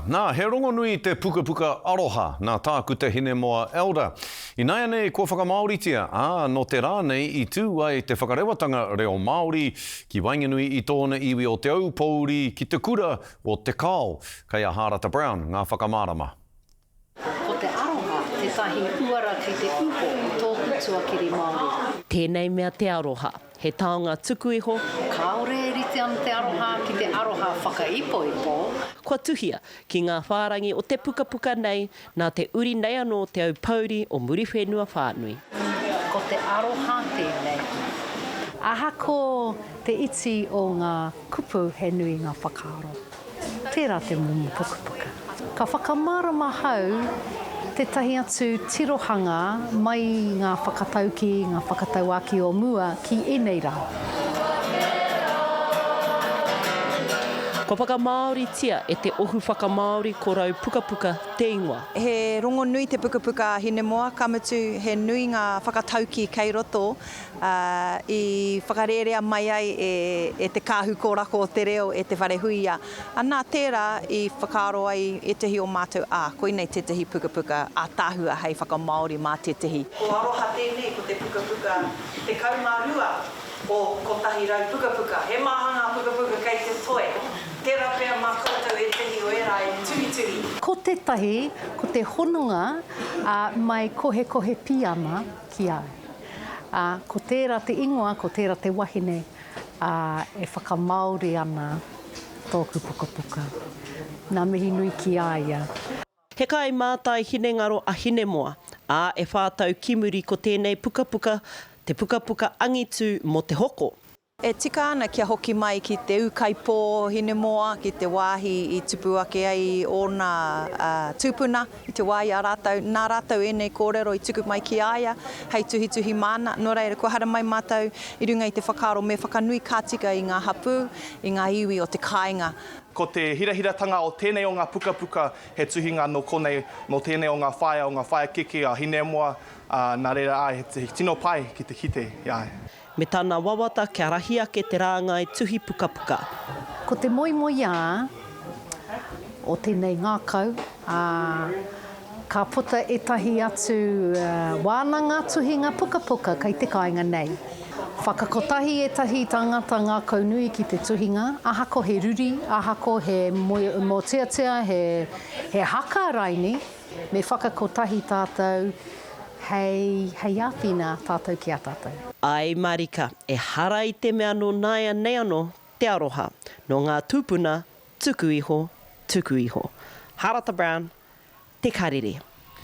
Nā, he rongonui te pukapuka aroha nā tāku te Hinemoa Elder. Ināianei kua whakamāoritia, ā, nō te rā nei i tū ai te whakarewatanga reo Māori ki waenganui i tōna iwi o Te Aupōuri ki te kura o Te Kao. Kei a Hārata Brown ngā whakamārama. Ko te aroha tētahi uara kei te uho i tōku tuakiri Māori. Tēnei mea te aroha. He taonga tuku iho. Kāore e rite ana te aroha ki te aroha whakaipoipo. Kua tuhia ki ngā whārangi o te pukapuka nei nā te uri nei anō o Te Aupōuri o Muriwhenua whānui. Ko te aroha tēnei. Aha ko te iti o ngā kupu he nui ngā whakaaro. Tērā te momo pukapuka. Ka whakamārama ahau tētahi atu tirohanga mai i ngā whakataukī, ngā whakatauākī o mua ki ēnei rā. Kua whakamāoritia e te Ohu Whakamāori Korou Pukapuka te ingoa. He rongonui te pukapuka a Hinemoa, ka mutu he nui ngā whakataukī kei roto, i whakarērea mai ai e te Kāhu Kōrako o te Reo, e Te Wharehuia, anā, tērā i whakaaro ai ētehi o mātou, ā, koinei tētehi pukapuka ātaahua hei whakamāori mā tētehi. Ko Aroha tēnei, ko te pukapuka tekau mā rua o kotahi rau pukapuka. He maha ngā pukapuka kei te toe, tērā pea mā koutou ētehi o ērā e tuhituhi. Ko tētahi, ko te hononga a My Kohekohe Pīama, Ki au. Ā, ko tērā te ingoa, ko tērā te wahine, ā, e whakamāori ana tōku pukapuka. Ngā mihi nui ki a ia. He kaimātai hinengaro a Hinemoa, ā, e whā tau ki muri ko tēnei pukapuka te pukapuka angitu mō te hoko. E tika ana kia hoki mai ki te ūkaipō Hinemoa, ki te wāhi i tupu ake ai ōna tūpuna i te wā i a rātou. Nā rātou ēnei kōrero i tuku mai ki a ia hei tuhituhi māna. Nō reira, kua haere mai mātou i runga i te whakaaro me whakanui ka tika i ngā hapū, i ngā iwi o te kāinga. Ko te hirahiratanga o tēnei o ngā pukapuka he tuhinga anō konei nō tēnei o ngā whaea, o ngā whaea keke a Hinemoa, ā, nā reira, āe, he tino pai ki te kite, āe. Me tana wawata kia rahi ake te rāngai tuhi pukapuka. Ko te moemoeā o tēnei ngākau, ā, ka puta ētahi atu wānanga tuhinga pukapuka kei te kāinga nei. Whakakotahi ētahi tāngata ngākau nui ki te tuhinga, ahako he ruri, ahako he moemoeā, he haka raini, Me whakakotahi tātou hei, hei āwhina tātou ki a tātou. Āe mārika, ehara i te mea nō nāianei anō te aroha, nō ngā tūpuna tuku iho, tuku iho. Harata Brown, Te Karere.